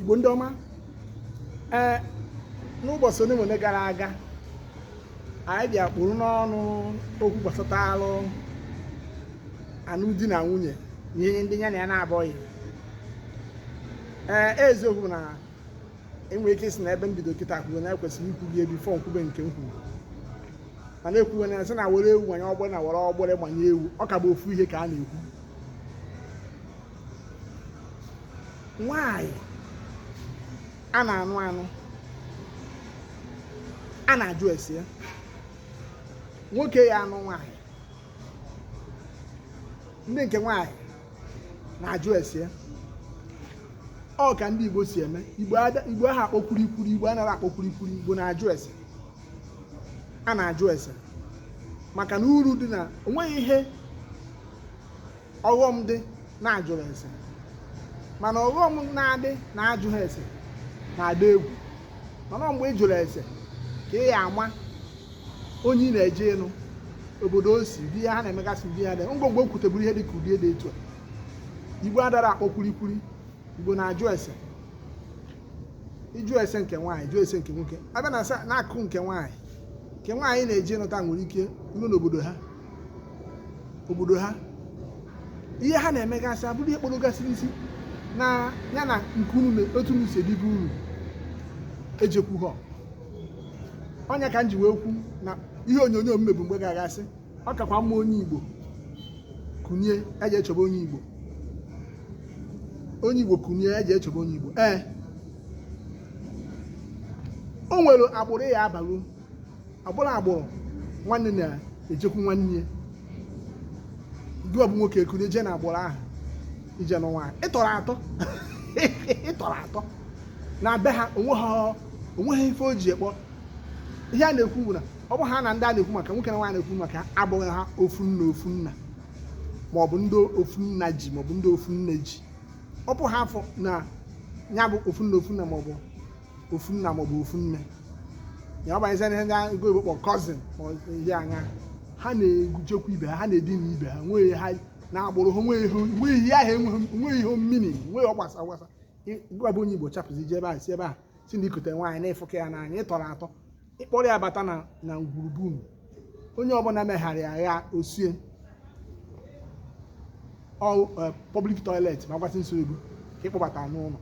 igbo ndị ọma ee n'ụbọchị one na one gara aga anyị bịa kpụrụ n'ọnụ okwu gbasata alụ anụm di na nwunye na ihe ndị ya na ya na-abụghị ee e, eziokwu na e nwere ike ịsị na ebe m bido kịta kwuru na e kwesịrị ikwulị ya before m kwube nke m kwuru mana e kwuwe na sị na were ewu manye ọgbọrọ na were ọgbọrọ gbanye ewu ọ ka bụ ofu ihe ka a na-ekwu nwanyị a na-anụ anụ a na-ajụ ese ya nwoke ya anụ nwanyị ndị nke nwanyị na-ajụ ese ya ọ ka ndị Igbo si eme Igbo aha akpọ kwurikwuri Igbo anaghị akpọ kwurikwuri Igbo na-ajụ ese a na-ajụ ese maka na uru dị na o nweghị ihe ọghọm dị na a jụrụ ese mana ọghọm na-adị na ajụghị ese na-adị egwu mana mgbe ị jụrụ ese ka ị ya ama onye ị na-eje ịnụ obodo o si ihe ha na-emegasị di ya dị ngwongwo kwuteburu ihe dị ka ụdị dị etu a igbo adara akpọ kwurikwuri igbo na-ajụ ese ịjụ ese nke nwaanyị jụọ ese nke nwoke a bịa na akụkụ nke nwaanyị nke nwaanyị na-eje ịnụta nwere ike iru n'obodo ha obodo ha ihe ha na-emegasị abụrụ ihe kpọrọgasịrị isi na ya na nke unu otu unu si ebi be unu ejekọha ọ nya ka m ji wee kwu na ihe onyonyo m mebu mgbe gara aga sị ọ kakwa mma onye igbo kunie jee chọba onye igbo onye igbo kunie jee chọba onye igbo ee o nwere agbụrụ ị ya abalụ agbụrụ agbụrụ nwanne na-ejekwu nwanne gị wa bụ nwoke kunie jee na agbụrụ ahụ ije nụ nwaanyị ị tọrọ atọ ị tọrọ atọ na be ha o nweghị ife o ji ekpọ ihe a na-ekwu bụ na ọ bụha na ndị a na-ekwu maka nwoke na nwaanyị na-ekwu maka abụghị ha ofu nna ofu nna maọbụ ndị ofu nna ji maọbụ ndị ofu nne ji ọ bụha afọ na ya bụ ofu nna ofu nna maọbụ ofu nna maọbụ ofu nne ya abanyezi ihe ndị oyibo kpọ cousin ma ihe anya ha na-ejekwu ibe ha ha na-edina ibe ha nwee ha na agbụrụ ha nwee ihe nwee ihe ahụ enweghị nwee ihe mmiri nwee ọgbasa ọgbasa gị wa bụ onye igbo chapụzi ije ebe a si ebe a si na i kute nwaanyị na-afụka ya n'anya ị tọrọ atọ ị kpọrọ ya bata na na ngwuru be unu onye ọbụla megharị agha o sie all eh, public toilet ma gwasị nsogbu ka ị kpọbata n'ụlọ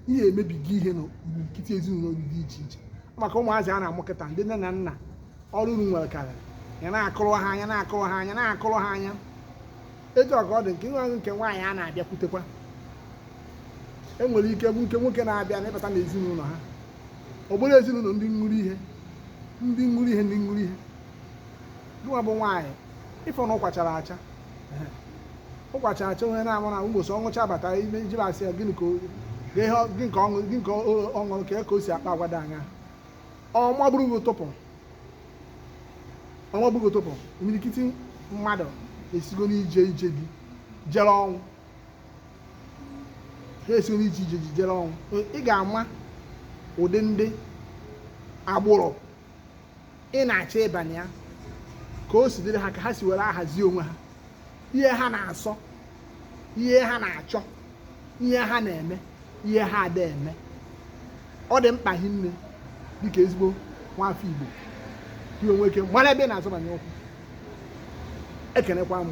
ihe emebigo ihe na nkịtị ezinụlọ gị dị iche iche maka ụmụazị a na-amụ kịta ndị nne na nna ọrụ unu nwere karịrị ya na-akụrụ ha anya na-akụrụ ha anya na-akụrụ ha anya etu ọ ka ọ dị nke nwa nke nwaanyị a na-abịakwutekwa e nwere ike nke nwoke na-abịa na ịbata n'ezinụlọ ha ọ bụrụ ezinụlọ ndị ṅụrụ ihe ndị ṅụrụ ihe ndị ṅụrụ ihe gịnwa bụ nwaanyị ị fụ na ụkwa chara acha ụkwa chara acha onye na-amụ na mbọsị ọ ṅụchaa bata ime ijiri asị ya gịnị ka o- gị ihe ọ- gị nke ọṅụ gị nke ọ- ọ ṅụrụ ka e ka o si akpa agwa dị anya ọ maburu gị ọ tụpụ ọ maburu gị ọ tụpụ imirikiti mmadụ esigo n'ije ije di jere ọnwụ ha esigo n'ije ije di jere ọnwụ ị ga-ama ụdị ndị agbụrụ ị na-achọ ịbanye ya ka o si dịrị ha ka ha si were ahazi onwe ha ihe ha na-asọ ihe ha na-achọ ihe ha na-eme ihe ha ada eme ọ dị mkpa hinne dịka ezigbo nwafọ Igbo ka i nwee ike mara ebe ị na-azọbanye ụkwụ ekenekwa m